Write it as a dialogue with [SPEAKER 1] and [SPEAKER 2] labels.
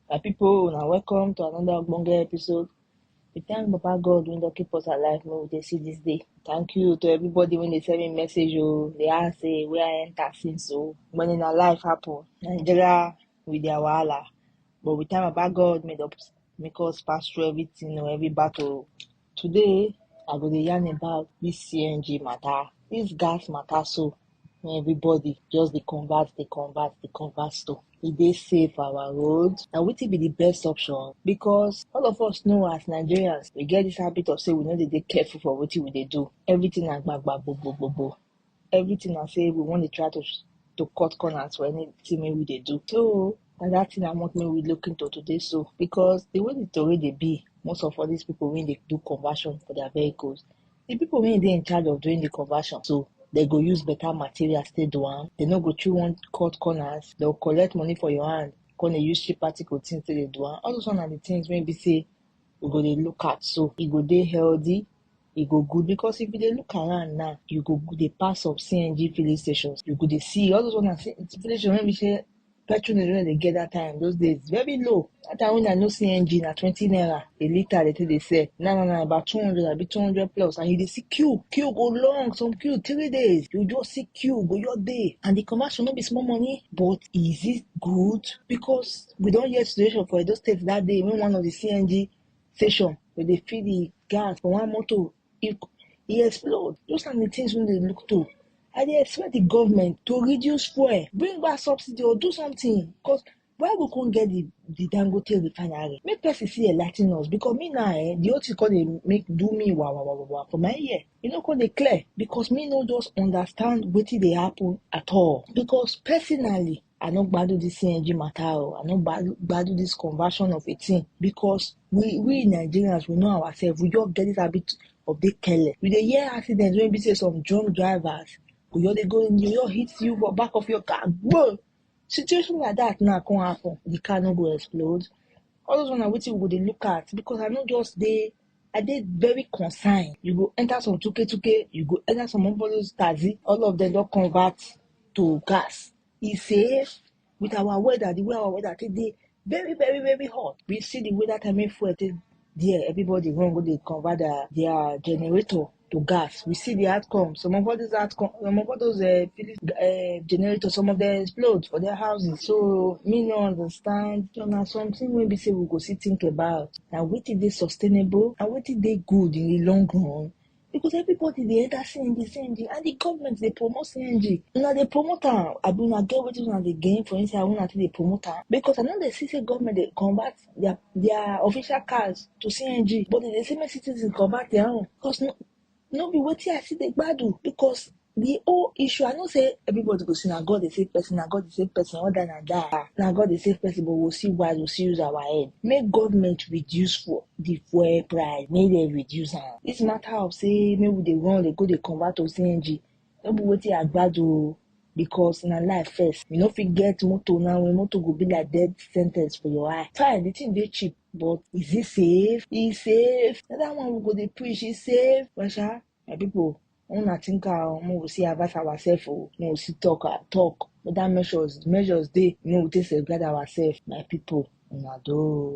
[SPEAKER 1] My people, una welcome to another ogbonge episode. We thank Baba God wey don keep us alive make we dey see this day. Thank you to everybody wey dey send me message o, dey ask say where I enter since o. When in our life happen, Nigeria with their wahala, but we thank Baba God make us make us pass through everything o, every battle. Today, I go dey yarn about this CNG matter, this gas matter so wey everybody just dey converse, dey converse, dey converse to. E dey safe for our road? Na wetin be the best option? Because all of us know as Nigerians, we get this habit of say we no dey dey careful for wetin we dey do. Everything na gbagba, gbogbo, gbogbo. everything na say we wan dey try to to cut corners for anything wey we dey do so na that thing i want make we look into today so because the way the tori dey be most of all these people wey dey do conversion for their vehicles the people wey dey in charge of doing the conversion so they go use better materials take do am they no go chew one cut corners they go collect money for your hand come dey use cheap article things take dey do am all those one na the things wey be say we go dey look at so e go dey healthy e go good because if you dey look around now you go dey pass some cng filling stations you go dey see all those one na filling station wey be say petrol dem no dey get that time those days very low that time when i know cng na twenty naira a litre dey take dey sell now na na about two hundred abi two hundred plus and you dey see queue queue go long some queue three days you just see queue go your day and the commercial no be small money but is it good because we don hear situation for edo state that day when one of the cng station wey dey feed the gas for one motor e e explode those na the things wey dey look to i dey expect the government to reduce fuel bring back subsidy or do something because why we come get the the dangote refinery make person see enlightening us because me now eh the whole thing come dey make do me wa wa wa wa wa for my ear e no come dey clear because me no just understand wetin dey happen at all because personally I no gbadu this CNG matter o. I no gbadu this conversion of a thing because we we Nigerians we know ourselves. We just get this habit of dey careless. We dey hear accidents wey be say some drunk drivers go just dey go dey just hit you for back of your car. Boom! Situation like that now come happen. The car no go explode. All those one na wetin we go dey look at because I no just dey I dey very concerned. You go enter some tuke tuke, you go enter some of those taxi, all of them don convert to gas. He say, with our weather, the way our weather take dey very, very, very hot. We see the weather time when fuel take there, everybody run go dey convert their, their generator to gas. We see the outcome. Some of all these outcome, some of all those uh, Philips uh, generators, some of them explode for their houses. So me no understand. So now something we be say we go see think about. Now what is they sustainable and what is they good in the long run? Because everybody they enter CNG, CNG, and the government they promote CNG. Now they promote am. I be una get wetin una dey gain for inside una take dey promote am. Because I know they see say government dey convert their their official cars to CNG, but they dey say make citizens convert their own because no, no be wetin I see dey gbadu because the whole issue I know say everybody go say na God dey save person, na God dey save person, all that na that, ah, na God dey save person but we still wise, we still use our head. Make government reduce for the fuel price, make dem reduce am. This matter of say make we dey run dey go dey convert to CNG no be wetin I gbadu o because na life first. You no fit get motor now when motor go be like death sentence for your eye. Fine, the thing dey cheap but is it safe? E safe? Na that one we go dey preach, e safe? But sha, my people, una think am o, make we see advise ourselves o, make we see talk am talk whether measures measures dey make we take safeguard ourselves. My people, una do o.